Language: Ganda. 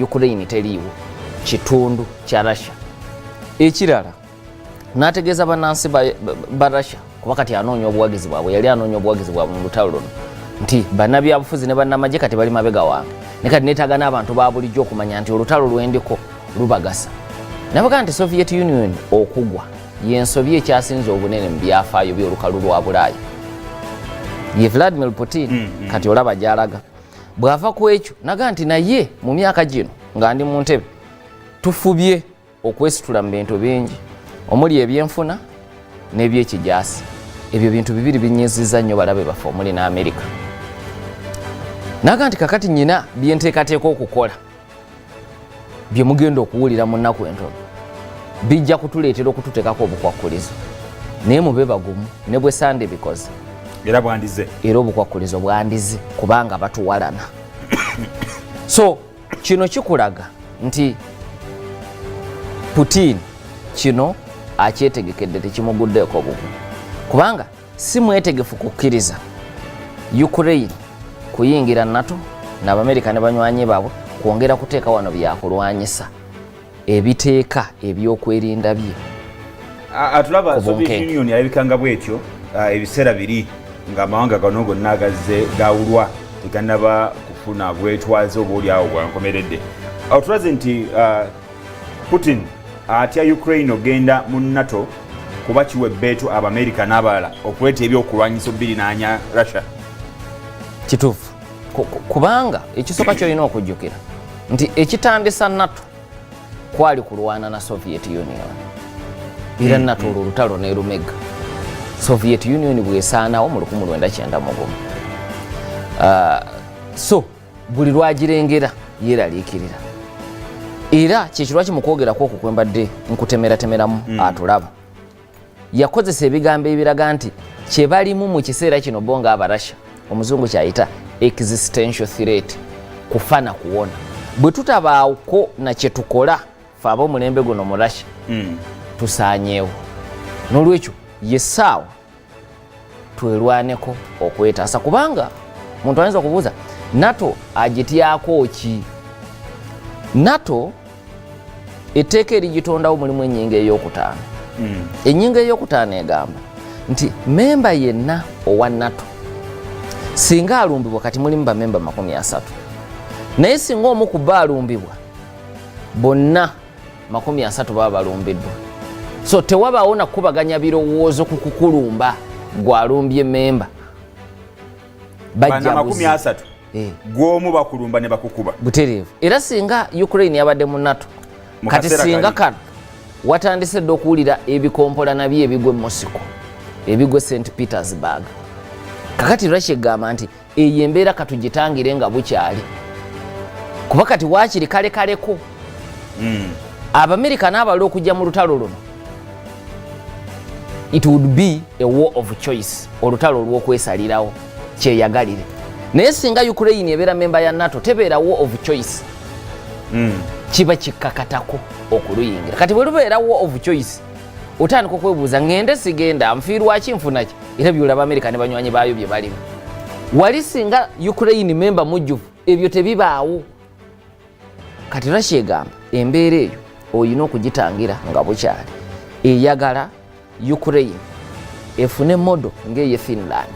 ukraine teliiwo kitundu kya russia ekirala n'ategeeza bannansi ba russia kuba kati anoonya obuwagizi bwabwe yali anoonya obuwagizi bwabwe mu lutalo luno nti bannabyabufuzi ne bannamagye kati bali mabega wange ne kati neetaaga n'abantu ba bulijjo okumanya nti olutalo lwendiko lubagasa nabaga nti soviet union okugwa yensobi ekyasinze obunene mu byafaayo by'olukalu lwa bulaaya ye vladimir putin mm, mm. kati olaba gyalaga bw'ava ku ekyo naga nti naye mu myaka gino nga ndi mu ntebe tufubye okwesitula mu bintu bingi omuli ebyenfuna n'ebyekijasi ebyo bintu bibiri binyiziza nnyo balabe baffe omuli n'amerika naga nti kakati nyina byenteekateeka okukola bye mugenda okuwulira mu nnaku entono bijja kutuleetera okututeekako obukwakkulizo naye mube bagumu ne bwe sande bikoze era bwandize era obukwakkulizo bwandize kubanga batuwalana so kino kikulaga nti putin kino akyetegekedde tekimuguddeeko bugu kubanga si mwetegefu kukkiriza ukraine kuyingira nato naabamerika ne banywanyi baabwe kwongera kuteeka wano byakulwanyisa ebiteeka ebyokwerinda bye atulaba soviet union yalabikanga bwetyo ebiseera biri ngaamawanga gano gonna agazze gawulwa teganaba kufuna bwetwaze oba olyawo bwankomeredde atulaze nti Putin atya Ukraine ogenda mu NATO kuba kiwa ebbeetu Abamerika n'abalala okuleeta ebyokulwanyisa obbirinaanya Russia. Kituufu kubanga ekisooka kyolina okujjukira nti ekitandisa NATO kwali kulwana na Soviet Union era mm, NATO olwo mm. olutalo nerumega Soviet Union bwesaanawo mu 1991 uh, so buli lwagirengera yeeraliikirira era kyekirwaki mu kwogerako okwo kwe mbadde nkutemeratemeramu mm. atulaba yakozesa ebigambo ebiraga nti kye balimu mu kiseera kino bo nga abarasha omuzungu kyayita existential threat kufa na kuwona bwe tutabaawuko na kye tukola fe aba omulembe guno mu russia mm. tusaanyeewo n'olwekyo ye saawa twelwaneko okwetaasa kubanga muntu ayinza okubuuza nato agityako ki nato etteeka erigitondawo mulimu enyinga eyokutaano hmm. enyinga eyokutaano egamba nti memba yenna owa nato singa alumbibwa kati mulimu bamemba makumi asatu naye singa omu ku ba alumbibwa bonna makumi asatu baba balumbiddwa so tewabaawo nakukubaganya birowoozo ku kukulumba gwalumbye memba bajjaasatu eh. gwomu bakulumba ne bakukuba butereevu era singa ukraine yabadde mu nato kati singa kano watandise dde okuwulira ebikompola nabyo ebigwe mosiko ebigwe st petersburg kakati russia egamba nti eyo embeera katugitangire nga bukyali kuba kati wakiri kale kaleko hmm. abamerika n'abala okujja mu lutalo luno it would be a war of choice olutalo olw'okwesalirawo kyeyagalire naye singa ukraine ebeera memba ya nato tebeera war of choice hmm. kiba kikkakatako okuluyingira kati bwe lubeera war of choice otandika okwebuuza ngende sigenda nfiirwaki nfunaki era byolaba amerika ne banywanyi baayo bye balimu wali singa ukraine memba mujjuvu ebyo tebibaawo kati russia egamba embeera eyo olina okugitangira nga bukyali eyagala ukraine efune modo ng'eye finland